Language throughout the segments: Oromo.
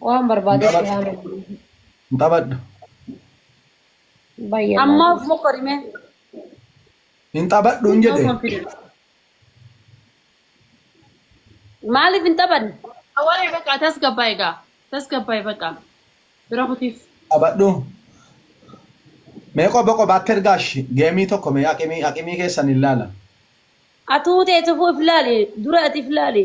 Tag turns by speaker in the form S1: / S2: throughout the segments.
S1: Waan
S2: barbaadee si haa malu. Hin taphadhu. Baay'ee Amma baay'ee. of mokkori mee.
S3: Hin taphadhu hin No jedhe. confidence.
S1: Maaliif hin taphanne? Awwalee baqa
S4: tasgabbaa egaa. Tasgabbaa baqa. Bira kutiif. Taphadhu.
S3: Mee qoba qobaatti ergaash geemii tokko mee aqimii aqimii keessan hin laala. Atuu
S1: teetu if laali. Dura ati if laali.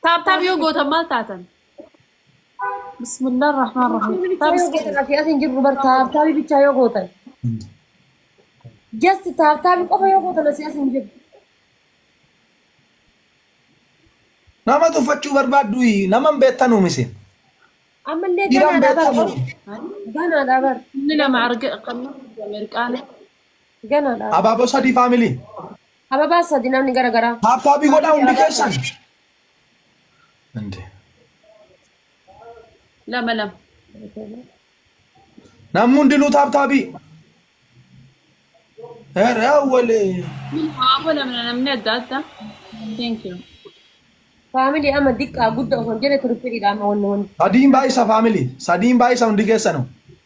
S4: Taaptaap yoo gootan maal taatan? Bismillah rahmaan rahim. Taaptaap yoo gootan asii asiin jirru
S2: bar taaptaabii bichaa yoo gootan. Just taaptaabii qofa yoo gootan asii asiin jirru.
S3: Nama tuffachuu barbaaddu nama hin beektan uumisin. Ammallee
S2: Dhiiraan ganaadha bar. beekamu. Ganaadha bar. Inni lama arga
S4: qabna Ameerikaan.
S2: Ganaadha. Abaaboo sadii
S3: faamilii. Hababaa sadi
S2: namni gara garaa. Taappaappii godhaa hundi
S3: keessan. Inde.
S4: Lama lama.
S3: Namni hundinuu taappaappii. Herra walee. Hawaasa namna
S4: namni adda adda. Thank you. Faamilii
S2: amma diqqaa gudda osoo hin jenne tirippiidha amma wanni wanni. Sadiin baay'isa faamilii.
S3: Sadiin baay'isa hundi keessanuu.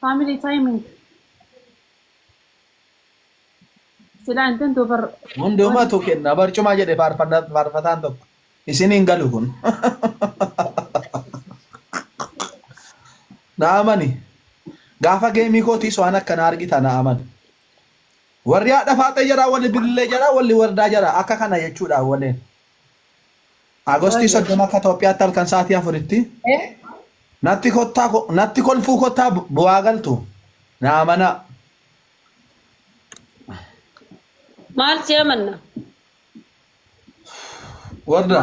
S4: family timing sila intent over Hundumatu kenna
S3: barcuma jedhe faarfanna- faarfataan tokko. Isin hin galu kun. Na amani. Gaafa geemii kootiis waan akkana argita na amani. Warri haadha faaxee jara, warri bilillee jara, warri wardaa jara akka kana jechuudha waleen. Agostii 30 akka Itoophiyaatti halkan sa'aatii afuritti natti kottaa ko- natti kolfuu kottaa bu- bu'aa galtu naa manaa.
S1: Maal si amanna?
S3: Warda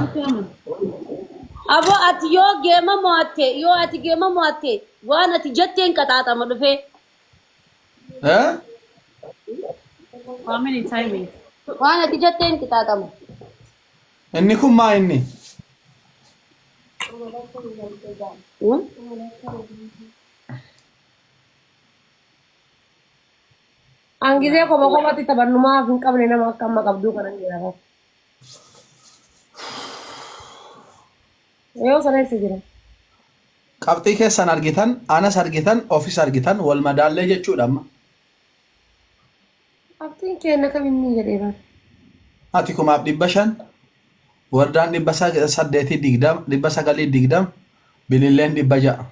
S1: Aboo ati yoo geema mo'atte yoo ati geema mo'atte waan ati jetteen qaxaaxama dhufee. eh?
S4: Waan ati
S1: jetteen qixaaxama.
S3: Inni kun maa inni?
S2: An gisee koma komatti taphannu maaf hin qabne nama akka amma qabduu kana hin jiraata. Yoo sana eessa jira?
S3: Qabxii keessan argitan, anas argitan, ofis argitan, wal madaallee jechuudha amma.
S2: Qabxiin keenna kam inni jedhee bar. Ati
S3: kumaaf dhibba shan, wardaan dhibba saddeetii digdama, dhibba sagalii digdama, bililleen dhibba ja'a.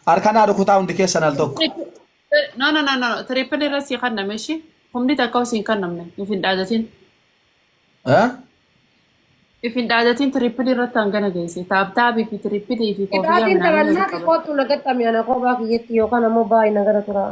S3: Harka naa rukutaa hundi keessan al tokko. No no
S4: no no triple irra si kanname ishi humni takka si hin kannamne if hin dhaadatin Eh? if hin dhaadatin triple irratti hangana geesse taabtaabii fi triple fi koofiyyaa Qixaatiin minaamin taphannaati walitti qabate.
S2: kootu na gaxxame ana koobaa kiyyatti yookaan ammoo baay'ina gara turaa.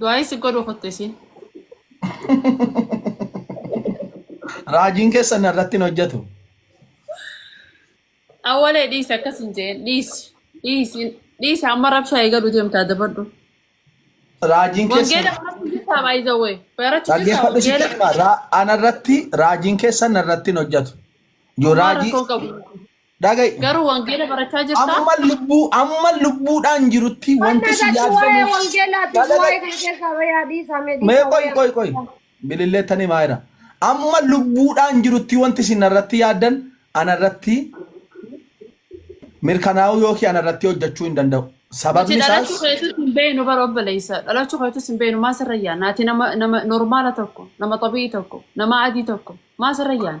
S4: Du'aayi si godhu kutte siin.
S3: Raajiin keessa na irratti hin hojjetu.
S4: Awwalee dhiisi akkas hin jeen dhiisi dhiisi dhiisi amma rabshaa eegalu deemtaa dabadhu.
S3: Raajiin keessa Wangeela barachuu jirtaa
S4: baay'ee wee barachuu jirtaa dhaggeeffadhu si
S3: wangeela jedhama. Ra- Ana irratti raajiin keessa na irratti hin hojjetu. Yoo Waan raajii rakkoo qabu. Dhaga'i. Garuu wangeela
S4: barachaa jirtaa? Amma lubbuu amma
S3: lubbuudhaan jirutti Wanna wanti si irratti waa'ee yaaddamuuf wangeelaatii fi dhaga'i. waa'ee kana keessaa bayaa dhiisaa mee Mee dhiisaa qoy waa'ee qoy qoy. wangeelaa. Bililleettanii maayira. Amma lubbuudhaan jirutti wanti isin irratti yaaddan ana irratti mirkanaa'uu yookiin ana irratti hojjechuu hin danda'u. Nuti Sababni dhalachuu isaas keetus hin beeknu
S4: bara obboleessa. Dhalachuu keetus hin beeknu maa sirra yaana? Ati nama nama normaala tokko, nama xabi'ii tokko, nama adii tokko maa sirra yaana?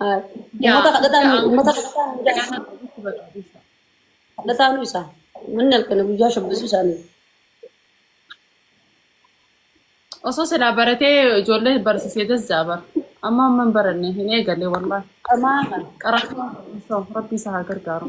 S1: Haa- Yaa Uummata kadhataa hunda nu- uummata ammoo kadhataa hundaa kadhataa isaa. ofitti barbaadisa. Kadhataa nu isaa. Manni halkanii guyyaa shubbisuu isaanii.
S4: Osoo silaa baratee ijoollee barsiisee dassaa bara. Amma amma hin baranne hin eegalle
S1: wallaahi.
S4: Qamaa kana. Qaraataa osoo rabbi isa haa gargaaru.